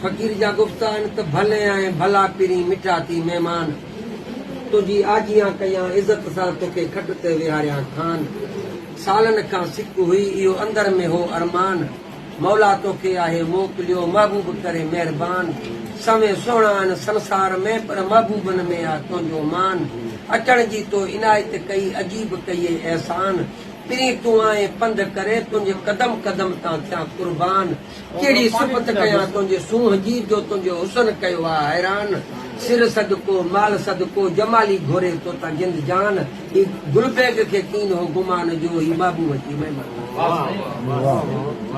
فقير جا گفت آهن ته ڀلي آهين ڀلا پرين مٺا ٿي مهمان تنهنجي آجيان ڪيان عزت سان توکي کٽ تي ويهاريان خان سالن کان سڪ هئي اهو اندر ۾ هو ارمان مولا توکي آهي موڪليو محبوب ڪري مهربان سوين سهڻا آهن سنسار ۾ پر محبوبن ۾ آ تنهنجو مان اچڻ جي تو عنايت ڪئي عجيب ڪيئي احسان پرين تون آئين پنڌ ڪري تنهنجي قدم قدم تان ٿيان قربان ڪهڙي صفت ڪيان تنهنجي سونهن جي جو تنهنجو حسن ڪيو آ حيران سر صدقو مال صدقو جمالي گهري توتان جند جان هي گل بيگ کي ڪين هو گمان جو هي محبوب جي مهمان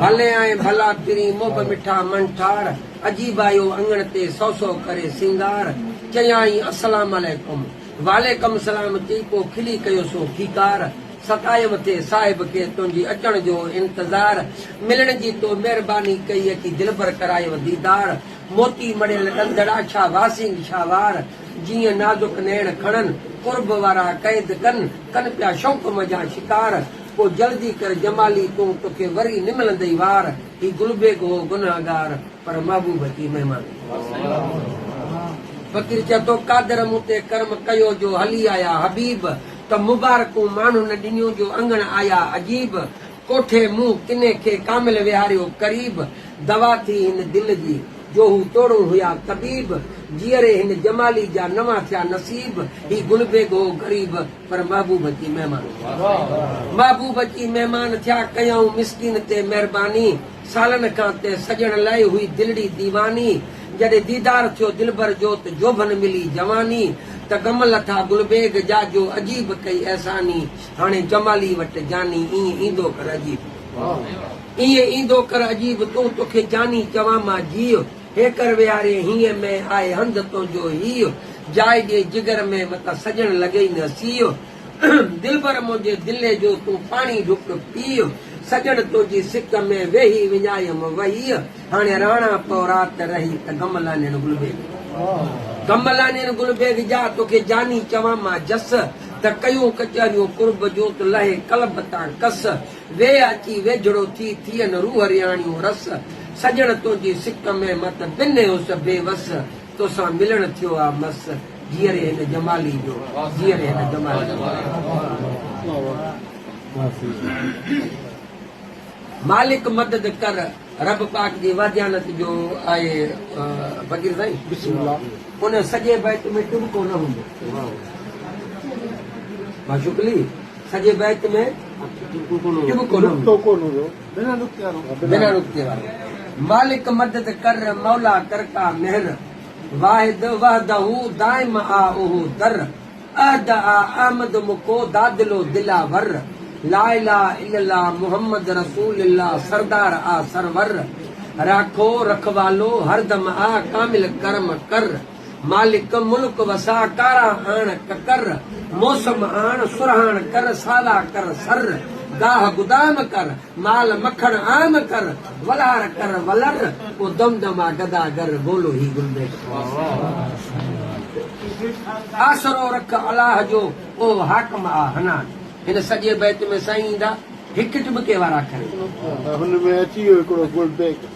ڀلي آئين ڀلا پرين مهب مٺا من ٺار عجيب آيو اڱڻ تي سو سو ڪري سينگار چيائين السلام عليڪم. وعليڪم سلام ٿي پو کلي ڪيو سو کيڪار ستايم ٿي صاحب کي تنهنجي اچڻ جو هو انتظار ملڻ جي تو مهرباني ڪئي اچي دلبر ڪرايو ديدار موتي مڙيل ڏندڙا ڇا واسينگ شاهوار جيئن نازڪ نيڻ کڻن قرب وارا قيد ڪن ڪن پيا شوق منجهان شڪار پو جلدي ڪر جمالي تون توکي وري نه ملندئي وار. هي گلبيگ هو گنهگار پر محبوب ٿي مهمان ٿيو. فقير چئي ٿو قادر مون تي ڪرم ڪيو جو هلي آيا حبيب ته مبارڪون ماڻهن ڏنيون جو اڱڻ آيا عجيب ڪوٺي مون ڪني کي ڪامل ويهاريو قريب دوا ٿي هن دل جي جو هو توڙون هيا طبيب جيئري هن جمالي جا نوان ٿيا نصيب هي گلبيگ هو غريب پر محبوب اچي مهمان ٿيا. محبوب اچي مهمان ٿيا ڪيائون مسڪين تي مهرباني سالن کان تنهن سڄڻ لئه هئي دلڙي ديواني جڏهن ديدار ٿيو دلبر جو ته جوڀن ملي جواني ته غم لٿا گل بيگ جا جو عجيب ڪئي احساني هاڻي جمالي وٽ جاني ائين ايندو ڪر عجيب ائين ايندو ڪر عجيب تون توکي جاني چوان مان جيء. هيڪر ويهاري هينء مئي آء هنڌ تنهنجو هيء، جاء ڏي جگر ۾ متان سڄڻ لڳئي نه سيء، دلبر منهنجي دلي جو تون پاڻي ڍڪ پيء، سڄڻ تنهنجي سڪ ۾ ويهي وڃايم وهيء، هاڻي رهڻا پئو رات رهي ته غم لانين گل بيگ، غم لانين گل بيگ جا توکي جاني چوان مان جس، ته ڪيون ڪچهريون قرب جون تو لهي قلب تان ڪس. ويهه اچي ويجهڙو ٿي، ٿيئن روح رياڻيون رس، سڄڻ تنهنجي سڪ ۾ مت بنهيس بي وس، توسان ملڻ ٿيو آ مس، جيئري هن جمالي جو، جيئري هن جمالي جو. مالڪ مدد ڪر، رب پاڪ جي واجهانت جو آهي فقير سائين. بسم الله ان سڄي بيت ۾ ٽٻڪو نه هوندو. ماشوقلي. سڄي بيت ۾ نقطو ڪونه هوندو، بنا نقطي وارو. بنا نقطي وارو. مالڪ مدد ڪر، مولا ڪرتا مهر. واحد وحده دائم آ اهو در. احد آ احمد مکو دادل و دلاور. لا اله الا الله محمد رسول الله سردار آ سرور. راکو رکوالو هردم آ ڪامل ڪرم ڪر. مالڪ ملڪ وساء ڪارا آڻ ڪڪر، موسم آڻ سرهاڻ ڪر ساوا ڪر سر، گاهه گدام ڪر، مال مکڻ عام ڪر، ولار ڪر ولر، پوء دم دم آ گدا گر، بولو هي گلبيش خواص. آسرو رک الاهه جو، او حاڪم آ حنان. هن سڄي بيت ۾ سائين ايندا هڪ هڪ ٻڪي وارا اکر ايندا. هن ۾ اچي ويو هڪڙو گلبيش.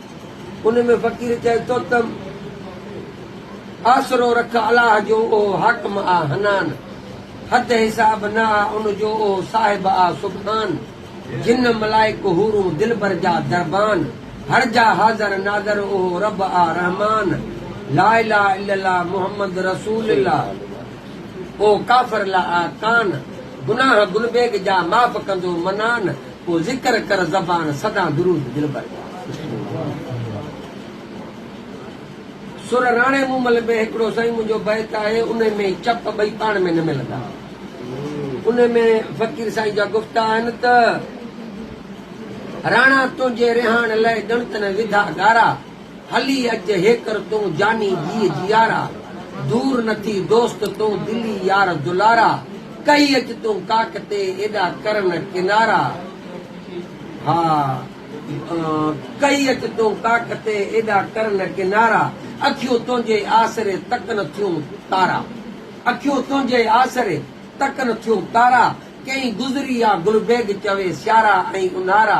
ان ۾ فقير چئي ٿو ته، آسرو رک الاهه جو اهو حاڪم آ حنان، حد حساب نه آ ان جو اهو صاحب آ سبحان، جن ملائڪ حورون دلبر جا دربان، هر جا حاضر ناظر اهو رب آ رحمان، لا اله الا الله محمد رسول الله اهو ڪافر لا آ ڪان، گناهه گلبيگ جا معاف ڪندو منان، ڪو ذڪر ڪر زبان سدان درود دلبر جا. سر راڻي مومل ۾ هڪڙو سائين منهنجو بيت آهي انهي ۾ چپ ٻئي پاڻ ۾ نه ملندا انهي ۾ فقير سائين جا گفتا آهن ته راڻا تنهنجي رهاڻ لئه ڳڻت نه وڌا ڳارا. هلي اچ هيڪر تون جاني جيء جيارا، دور نه ٿي دوست تون دلي يار دلارا، ڪهي اچ تون ڪاڪ تي ايڏا ڪرن ڪنارا، ها ڪهي اچ تون ڪاڪ تي ايڏا ڪرن ڪنارا، اکيون تنهنجي آسري تڪن ٿيون تارا، اکيون تنهنجي آسري تڪن ٿيون تارا، ڪئين گذري آ گل بيگ چوي سيارا ۽ اونهارا،